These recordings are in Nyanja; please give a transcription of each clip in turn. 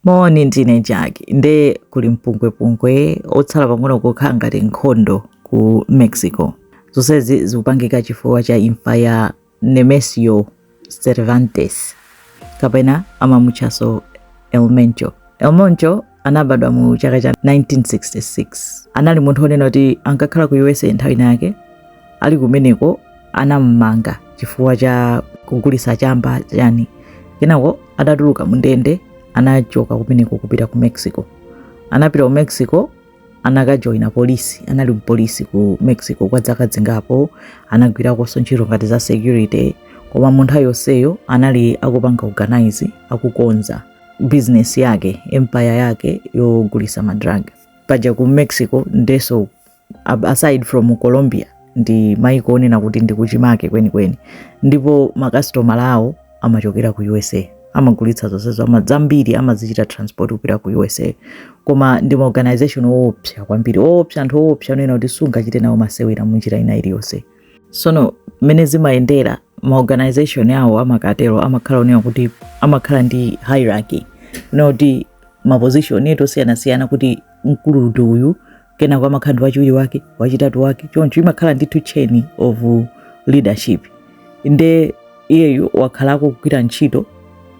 Moni, ndine Jack. Nde kuli mpungwepungwe otsala pang'ono kukhala ngati nkhondo ku Mexico. Zonsezi zikupangika chifukwa cha imfa ya Nemesio Cervantes kapena amamutchaso El Mencho. El Mencho anabadwa mu chaka cha 1966. Anali munthu onena kuti ankakhala ku USA nthawi inayake ali kumeneko anammanga chifukwa cha kugulitsa chamba chani kenako adatuluka mundende anachoka kumeneko kupita ku mexico anapita ku mexico anakajoyina polisi anali mpolisi ku mexico kwa dzaka dzingapo anagwirakonso ntchito ngati za security koma mu nthawi yonseyo anali akupanga organize akukonza bizinesi yake empire yake yogulisa madrug paja ku mexico ndeso ab- aside from colombia ndi maiko onena kuti ndi kuchimake kwenikweni ndipo makasitomala awo amachokera ku usa amagulitsa zonsezo ama- zambiri amazichita transport kupita ku usa koma ndi maorganization oopsa kwambiri oopsa anthu oopsa onena kuti sungachite nawo masewera munjira ina iliyonse sono mmene zimayendera maorganization awo amakatero amakhala onena kuti amakhala ndi hierarchy onena kuti maposition eti osiyanasiyana kuti mkulu ndi uyu kenako amakhala ndi wachiwiri wake wachitatu wake choncho imakhala ndithu chain of leadership nde iyeyu wakhalako akugwira ntchito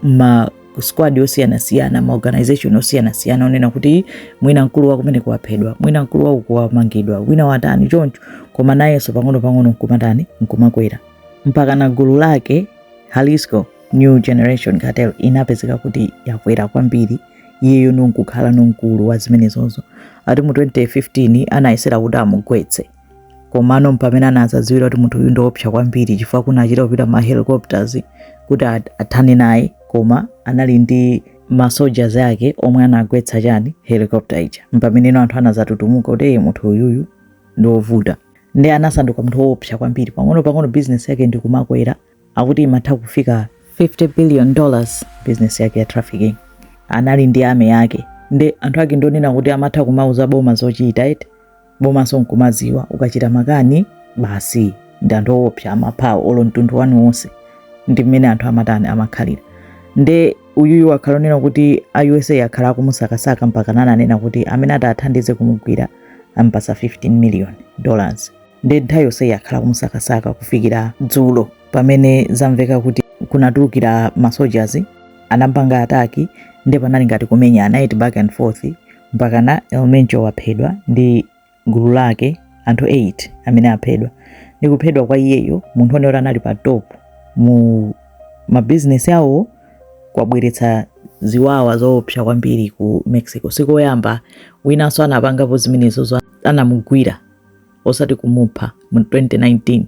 ma squad osiyanasiyana ma organization osiyanasiyana onena kuti mwina mkulu wa kumeneko waphedwa mwina mkulu wa uku wamangidwa wina watani choncho koma nayenso pang'ono pang'ono nkumatani nkumakwera mpaka na gulu lake Jalisco New Generation Cartel inapezeka kuti yakwera kwambiri iyeyo nkukhalano mkulu wa zimenezozo ati mu 2015 anayesera kuti amugwetse komano mpamene anazadziwira kuti munthu uyu ndiopsa kwambiri chifukwa kunachita kupita ma helicopters kuti athane naye koma anali ndi ma soldiers ake omwe anagwetsa chani helicopter ija mpameneno anthu anazatutumuka kuti munthu uyuyu ndiovuta nde anasanduka munthu woopsa kwambiri pang'ono pang'ono business yake ndikumakwera akuti imatha kufika 50 billion dollars business yake ya trafficking anali ndi army yake nde anthu ake ndonena kuti amatha kumauza boma zochita eti bomanso nkumaziwa ukachita makani basi ndi anthu owopsa amapha awo olo mtundu wanu wonse ndi mmene anthu amatani amakhalira nde uyuyu wakhala onena kuti a usa akhala akumusakasaka mpaka nananena kuti amene atathandize kumugwira ampasa 15 million dollars nde nthawi yonseyi akhala kumusakasaka kufikira dzulo pamene zamveka kuti kunatulukira ma soldiers anapanga ataki nde panali ngati kumenyana eti back and forth mpakana El Mencho waphedwa ndi gulu lake anthu 8 amene aphedwa ndi kuphedwa kwa iyeyo munthu one oti anali pa top mu mabizinesi awo kwabweretsa ziwawa zoopsa kwambiri ku mexico sikoyamba winanso anapangapo zimenezozo anamugwira osati kumupha mu 2019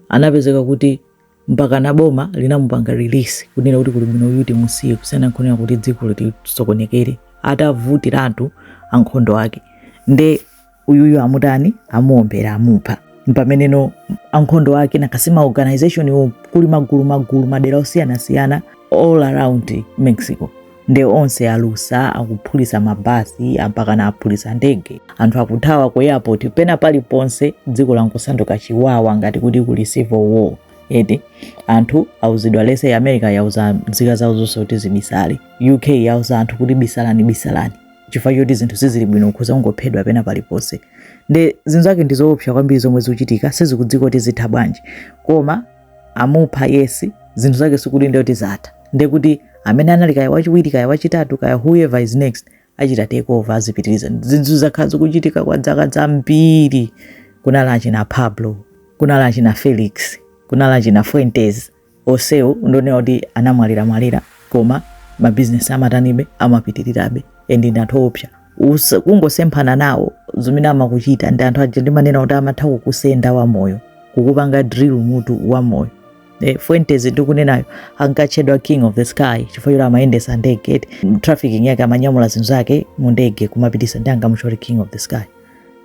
anapezeka kuti mpaka na boma linamupanga release kunena kuti kuli bwino uyu timusiye kusiyana nkuonera kuti dziko litisokonekere atavutiratu ankhondo ake nde uyuyu amutani amuombera amupha mpamene no ankhondo ake nakhazikitsa organization iwo kuli magulu magulu madera osiyanasiyana all around mexico nde onse alusa akuphulitsa mabasi mpakana aphulisa ndege anthu akuthawa ku airport pena paliponse dziko langosanduka chiwawa ngati kuti kuli civil war eti anthu auzidwa lese america yauza nzika zawo zonse kuti zibisale uk yauza anthu kuti bisalani bisalani chifukwa choti zinthu sizili bwino ukhoza ungophedwa pena paliponse nde zinthu zake ndi zoopsa kwambiri zomwe zikuchitika sizikudziwika kuti zitha bwanji koma amupha yes zinthu zake sikuti ndiye kuti zatha ndiye kuti amene anali kaya wachiwiri kaya wachitatu kaya whoever is next achita take over azipitiriza zinthu zakhala zikuchitika kwa dzaka zambiri kunali achina pablo kunali achina felix kunali achina fuentes osewo ndonena kuti anamwalira mwalira koma mabizinesi amatanibe amapitirirabe and ndi anthu oopsa usa- kungosemphana nawo zimene amakuchita ndi anthu aja ndimanena kuti amatha kukusenda wamoyo kukupanga drill mutu wamoyo Eh, fuentes ndikunenayo ankatchedwa king of the sky chifukwa choti amayendesa ndege eti trafficking yake amanyamula zinthu zake mu ndege kumapitisa nde ankamutcha kuti king of the sky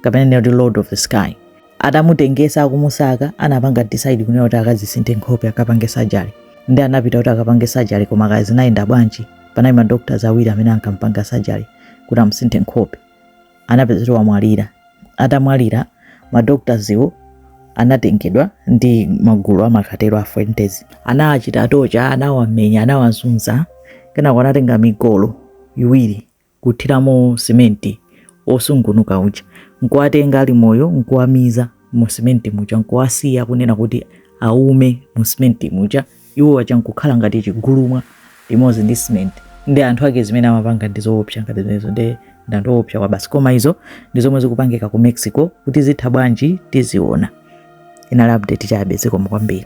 kapena kunena kuti lord of the sky atamutengesa akumusaka anapanga decide kunena kuti akazisinthe nkhope akapange surgery nde anapita kuti akapange surgery koma kaya zinayenda bwanji panali ma doctors awiri amene ankampanga surgery kuti amusinthe nkhope anapezeka kuti wamwalira atamwalira ma doctors iwo anatengedwa ndi magulu amakatero a fuentes anawachita torture anawamenya anawazunza kenako anatenga migolo iwiri kuthiramo simenti osungunuka uja nkuwatenga ali moyo nkuwamiza mu simenti muja nkuwasiya kunena kuti aume mu simenti muja iwo aja nkukhala ngati chigulumwa limodzi ndi simenti ndi anthu ake zimene amapanga ndi zoopsa ngati zimenezo nde ndanthu woopsa kwabasi koma izo ndi zomwe zikupangika ku mexico kuti zitha bwanji tiziona inali update chabe zikomo kwambiri